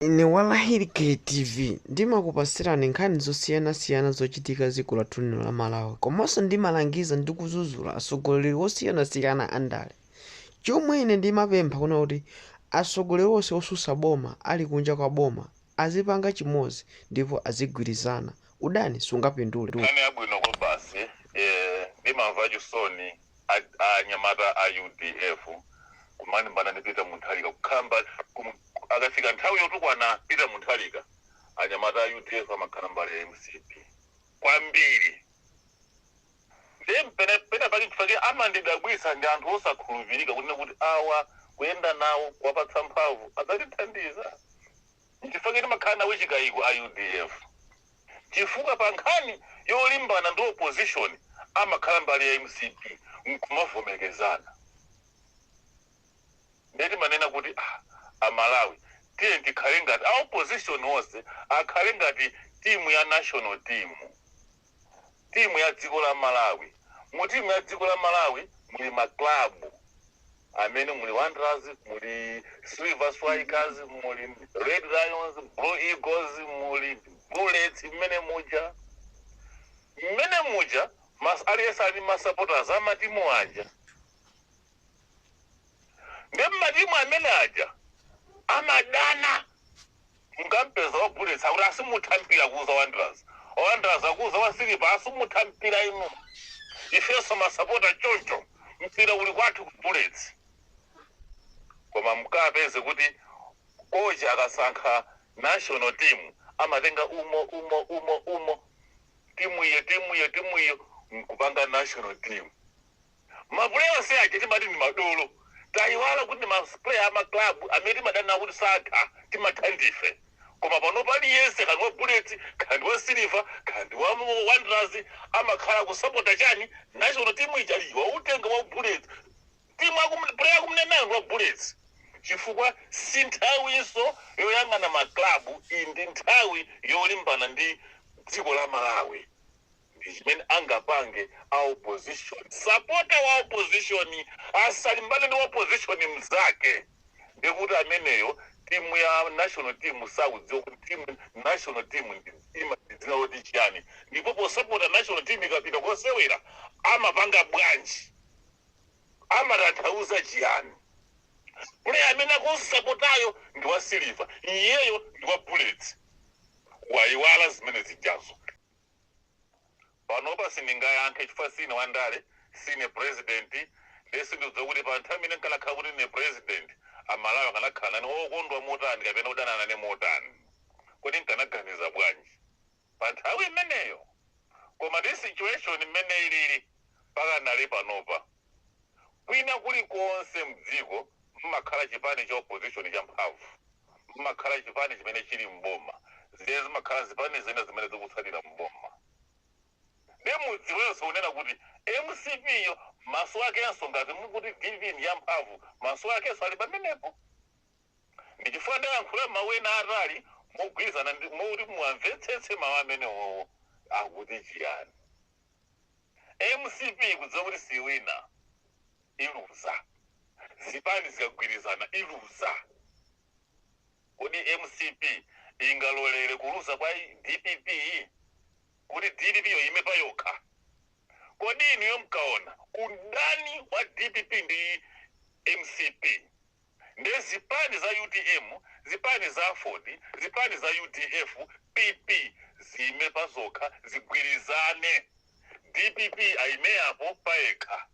Ine Walahiri KTV ndimakupasirani nkhani zosiyana siyana zochitika dziko lathu lino la Malawi komanso ndimalangiza ndi kudzudzula atsogoleri wosiyana siyana andale chomwe ine ndimapempha kuna kuti atsogoleri wonse wotsutsa boma ali kunja kwa boma azipanga chimodzi ndipo azigwirizana udani sungapindule. Nkhani yabwino kwabasi eeh ndimamva chisoni. a a anyamata a udf kumalimbana ndi peter mutharika kukhamba kum, akafika nthawi yotukwana peter mutharika anyamata a udf amakhala mbali ya mcp kwambiri ndiye mpene pena pake nchifake amandidabwitsa ndi anthu osakhulupirika kunena kuti awa kuyenda nawo kuwapatsa mphamvu adzatithandiza Nchifukwa chake timakhala nawo chikaiko a udf chifukwa pa nkhani yolimbana ndi opposition amakhala mbali ya mcp nkumavomerezana ndiye timanena kuti ah, amalawi tiyeni tikhale ngati a opposition onse akhale ngati timu ya national team timu ya dziko la Malawi. Mu timu ya dziko la Malawi muli ma club amene muli Wanderers, muli Silver Strikers, muli Red Lions, Blue Eagles, muli Bullets mmene muja. Mmene muja mas aliyense ali ndi ma supporters a matimu aja. Ndi matimu amene aja amadana Mukampeza wa Bullets akuti asimutha mpira kuuza Wanderers. Wa Wanderers akuuza wa Siliva asimutha mpira inu. Ifenso masapota choncho. Mpira uli kwathu ku Bullets. Koma mukapeze kuti kochi akasankha national team amatenga umo umo umo umo timu iyo timu iyo timu iyo nkupanga national team. Ma player onse aja timati ndi madolo. Tayiwala kuti ndi ma player a ma club amene timadana nawo kuti satha, timatha ndife. Koma panopa aliyense kaya ndi wa Bullets, kaya ndi wa Silver, kaya ndi wa Wanderers amakhala akusapota chani? National team ija ali watenga wa Bullets. Team akum player akumunenayo ndi wa Bullets. Chifukwa si nthawinso yoyang'ana ma club, iyi ndi nthawi yolimbana ndi dziko la Malawi. ndi chimene angapange a opposition sapota wa opposition asalimbane ndi opposition mzake ndikuti ameneyo timu ya national team sakudziwa kuti timu national team ndi ima ndi dzina loti chiyani ndipo posapota national team ikapita kosewera amapanga bwanji amatanthauza chiyani player amene akumsapotayo ndi wa silver iyeyo ndi wa bullets wayiwala zimene zijazo Panopa sindingayankhe chifukwa siine wandale, siine president nde sindikudziwa kuti pa nthawi imene nkanakhala kuti ndine president amalawi akanakhala nane okondwa motani kapena kudana nane motani. Kodi nkanaganiza bwanji pa nthawi imeneyo? Koma ndi situation mmene ilili pakanali panopa. Kwina kulikonse m'dziko m'makhala chipani cha opposition champhamvu, m'makhala chipani chimene chili m'boma, ndiye zimakhala zipani zina zimene zikutsatira m'boma. Ndiye mudziwenso kunena kuti mcp yo maso akenso ngati mukuti dpp ndi yamphamvu, maso akenso ali pamenepo. Ndi chifukwa ndayankhula mawu ena aatali mogwirizana, moti muwamvetsetse mawu amenewowo akuti chiyani. mcp ikudziwa kuti siyiwina iluza zipani zikagwirizana iluza kodi mcp ingalolere kuluza kwa dpp kuti dpp yo iyime payokha kodi inuyo mkaona udani wa dpp ndi mcp Nde zipani za utm, zipani za aford, zipani za udf, PP ziime pazokha zigwirizane. Dpp aime apo payekha.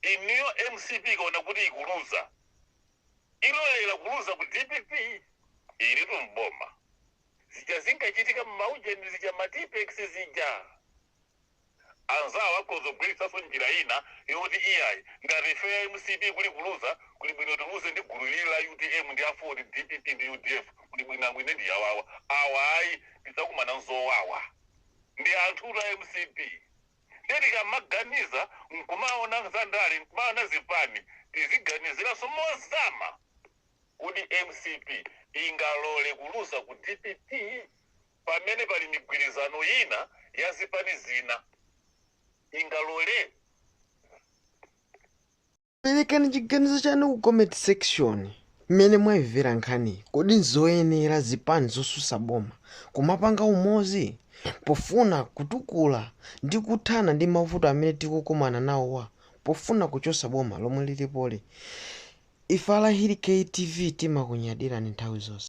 Inuyo mcp ikaona kuti ikuluza ilolela kuluza ku dpp ilitu mboma zija zinkachitika m'maujeni zija matipex zija anzawo akhoza kugwiritsanso njira ina yoti iyayi ngati ifeyo a mcp kuli kuluza kuli bwino tiluze ndi gulu ili la utm ndi aford, pp ndi udf kuli bwinangu ine ndi awawa awa ayi tidzakumana nzowawa ndi anthutu a mcp nde tikamaganiza nkumaona za ndale nkumaona zipani tiziganiziranso mozama kuti mcp ingalole kuluza ku dpp pamene pali migwirizano ina ya zipani zina ingalole? Perekani chiganizo chanu ku comment section mmene mwayimvera nkhaniyi. Kodi n'zoyenera zipani zosusa boma kumapanga umozi pofuna kutukula ndi kuthana ndi mavuto amene tikukumana nawowa pofuna kuchosa boma lomwe lilipoli? Ife a Lahiri K TV timakunyadirani nthawi zonse.